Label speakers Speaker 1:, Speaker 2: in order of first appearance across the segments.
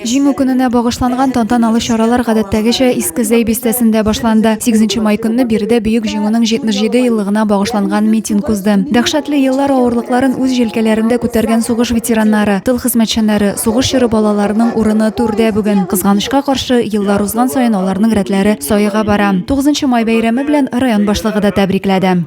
Speaker 1: Җиңү көненә багышланган тантаналы чаралар гадәттәгечә Иске Зәй бистәсендә башланды. 8 май көнне биредә Бөек Җиңүнең 77 еллыгына багышланган митинг узды. Дәхшәтле еллар авырлыкларын үз җилкәләрендә күтәргән сугыш ветераннары, тыл хезмәтчәннәре, сугыш чоры балаларының урыны түрдә бүген. Кызганычка каршы, еллар узган саен аларның рәтләре саега бара. 9 май бәйрәме белән район башлыгы да тәбрикләде.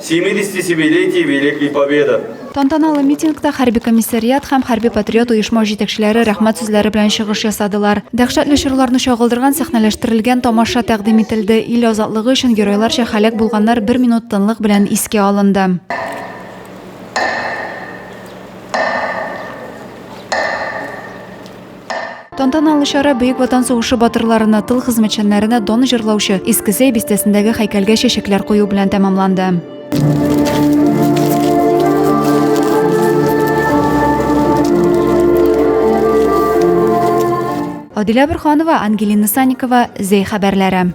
Speaker 2: 70 десятилетий Великой Победы. Тантаналы митингта
Speaker 1: хәрби комиссариат һәм хәрби патриот оешма җитәкчеләре рәхмәт сүзләре белән чыгыш ясадылар. Дәһшәтле чорларны чагылдырган сәхнәләштерелгән тамаша тәкъдим ителде. Ил азатлыгы өчен геройларча һәлак булганнар бер минут тынлык белән искә алынды. Тантаналы чара Бөек Ватан сугышы батырларына, тыл хезмәтчәннәренә дан җырлаучы Искесей бистәсендәге һәйкәлгә чәчәкләр кую белән тәмамланды. Адилә Бурханова, Ангелина Санникова, Зәй хәбәрләре.